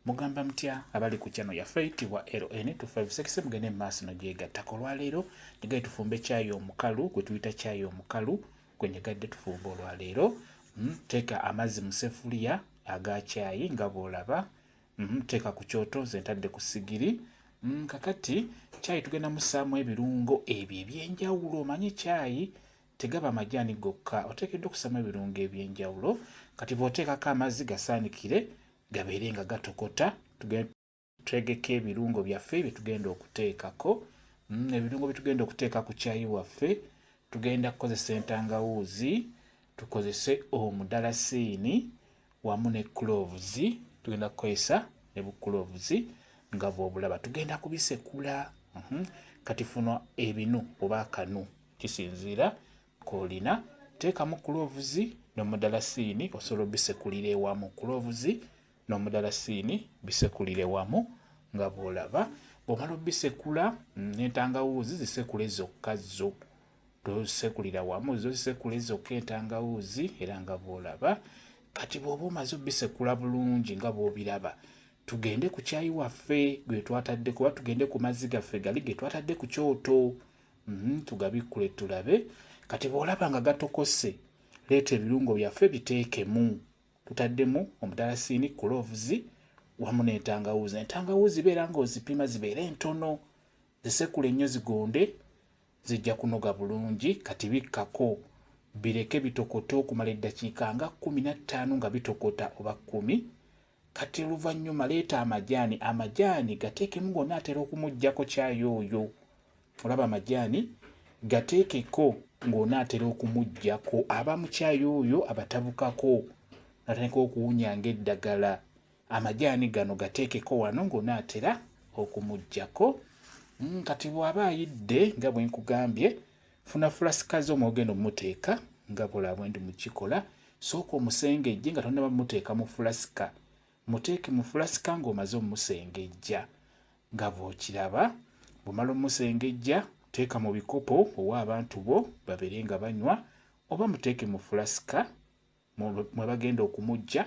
Mugamba mutya abali ku channel yaffe eyitibwa LN256 mugende mu maaso nogyegattako olwaleero nyegaye tufumbe caayi omukalu gwe tuyita caayi omukalu gwe nyegadde tufumbe olwaleero mm, teeka amazzi mu sefuliya aga caayi nga bw'olaba mm, teeka ku kyoto nze ntadde ku sigiri mm, kakati caayi tugenda musaamu ebirungo ebyo ebyenjawulo omanyi caayi Tegaba majaani gokka, oteekeddwa okussamu ebirungo eby'enjawulo. Kati bw'oteekako amazzi gasaanikire gabeere nga gatokota. Twegeke ebirungo byaffe bye tugenda okuteekako. Mm, ebirungo bye tugenda okuteeka ku caayi waffe tugenda kukozesa entangawuuzi, tukozese omudalasiini wamu ne cloves. Tugenda kukozesa ne bu cloves nga bw'obulaba. Tugenda kubisekula. Mhm. Kati funo ebinu oba akanu. Kisinziira k'olina. Teekamu kuloovuzi n'omudalasiini osobola obisekulira ewamu. Kuloovuzi n'omudalasiini bisekulire wamu nga bw'olaba. Bw'omala obisekula mm, n'entangawuuzi zisekule zokka zo. Tosekulira wamu, zo zisekule zokka entangawuuzi era nga bw'olaba. Kati bw'oba omaze obisekula bulungi nga bw'obiraba tugende ku kyayi waffe gwe twatadde kuba tugende ku mazzi gaffe gali ge twatadde ku kyoto Mhm, tugabikkule tulabe kati bw'olaba nga gatokose leeta ebirungo byaffe biteekemu tutaddemu omudalasiini kuloovuzi wamu n'entangawuuzi entangawuuzi beera nga ozipima zibeere entono zisekule nnyo zigonde zijja kunoga bulungi kati bikkako bireke bitokote okumala eddakiika nga kumi na ttaano nga bitokota oba kkumi Kati oluvanyuma leeta amajaani amajaani gateekemu gonna atera okumujjako caayi oyo olaba amajaani gateekeko ng'onaatera okumujjako aba mucaayi oyo abatabukako natandika okuwunya ng'eddagala amajaani gano gateekeko wano ng'onaatera okumujjako hmm, kati bw'aba ayidde nga bwe nkugambye Funa fulasika zo mw'ogenda omuteeka nga bula bwe ndi mu kikola. Sooka omusengejje nga tonnaba muteeka mu fulasika. Muteeke mu fulasika ng'omaze omusengejja nga bw'okiraba. Bw'omala omusengejja teeka mu bikopo owe abantu bo babeere nga banywa oba muteeke mu fulasika mwe bagenda okumujja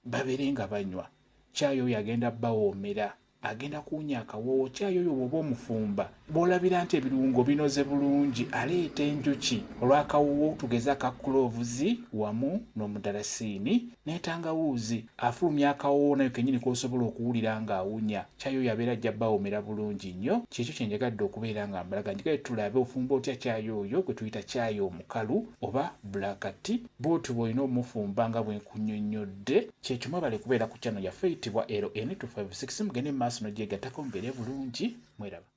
babere nga banywa caayi oyo agenda bawoomera agenda kuwunya akawoowo caayi oyo bwoba omufumba bwolabira nti ebirungo binoze bulungi aleeta enjuki olwakawoowo tugeze aka kuloovuzi wamu n'omudarasiini n'entangawuuzi afulumya akawoowo nayo kenyini kosobola okuwulira ng'awunya Caayi oyo abeera ajja bawomera bulungi nnyo. Ky'ekyo kye njagadde okubeera nga mbalaga nti kale tulabe ofumba otya caayi oyo gwe tuyita caayi omukalu oba Black Tea. Bw'otyo bw'olina omufumba nga bwe nkunnyonnyodde. Ky'ekyo mwebale kubeera ku channel yaffe eyitibwa LN256 mugende mu maaso n'ogyegattako mubeere bulungi. Mweraba.